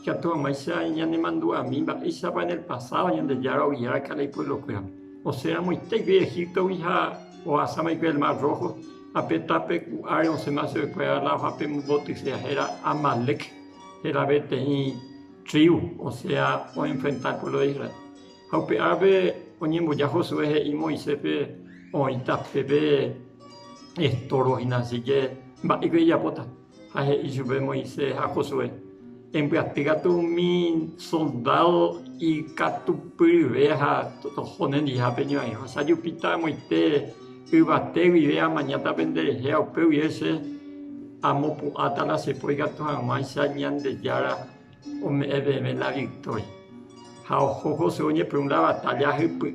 Ikatu hag̃uáicha ñanemandu'ami mba'éichapa en el pasádo Ñandejára ogia va'ekue ipueblokuérape. Osẽ ramoitéikuri Egíptogui ha ohasa va'ekue el mar Rójo, ha pe tape ku'áre osẽma chuguekuéra lado ha pe mbotyseha héra Amalec heraveteĩ tríu, osẽa oenfrenta puévlo de Israel. Ha upe árape oñemboja Josué he'i Moiséspe oĩ tape pe estorbo hína, asíke mba'éiko ijapóta. Ha he'i chupe Moisés ha Josué, Embyaty katu umi soldádo ikatupyryve ha toho nendiha peñorairõ. Che ajupíta amoite yvate guive amañáta penderehe ha upe guive che amopu'ãta la che poi katu hag̃uáicha Ñandejára Ome'ẽ peve la victoria. Ha oho José oñepyrũrã batalla hypy'ỹ.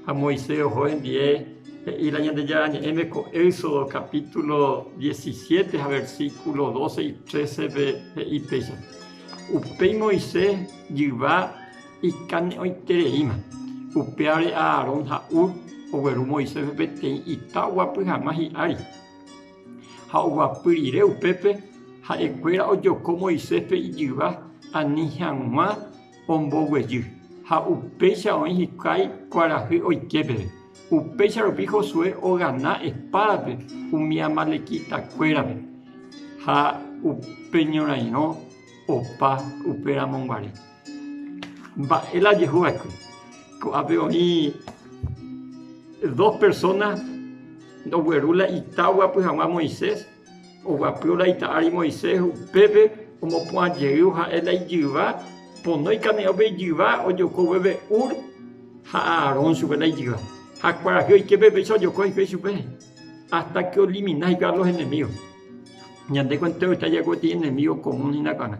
Ha Moisés oho hembie, he'i la Ñandejára Ñe'ẽme ko Éxodo capítulo diecisiete ha versículo doce y trécepe he'i péicha, Upéi Moisés jyva ikane'õitereíma. Upévare Aarón ha Hur ogueru Moiséspe peteĩ ita oguapy hag̃ua hi'ári. Ha oguapy rire upépe ha'ekuéra ojoko Moiséspe ijyva ani hag̃ua omboguejy, ha upéicha oĩ hikuái kuarahy oike peve. Upéicha rupi Josué ogana espádape umi amalekitakuérape, ha upe ñorairõ opa uperamonguare. Mba'e la ajehu va'ekue. Ko'ápe oĩ dos persona ogueru la ita oguapy haguã Moisés, oguapývo la ita ári Moisés, upépe omopu'ã jeývo ha'e la ijyva, ponói kane'õpe ijyva ojoko oguépe Hur ha Aarón chupe la ijyva. Ha kuarahy oike péicha ojoko hikuái ichupe hasta que olimina hikuái a los enemigos. Ñandéko enteroita jaiko peteĩ enemigo común hína kuaña.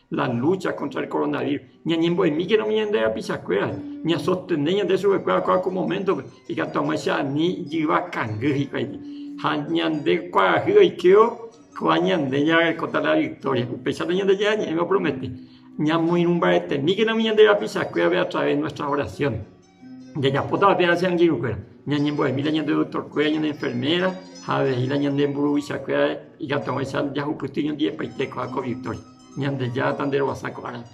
la lúcha kóntra el koronavírus. Ñañembo'emíkena umi ñande rapichakuéra, ñasostene ñande chupekuéra ko moméntope, ikatu hag̃ua che ani jyva kangy hikuái. Ha ñande kuarahy oikévo, kóva ñande ñarekóta la viktória. Upéicharõ ñande ñe'ẽme opromete, ñamoirũmbaretemíkena umi ñande rapichakuérape atraves de nuestras oraciones. Jajapótava térã che angirũkuéra, ñañembo'emi la ñande doktorkuéra, ñande enferméra ha avei la ñande mburuvichakuéra ikatuava'erã jahupyty ñondivepaite ko'ág̃a ko Victoria. Ñandejáta nderovasa ko árape.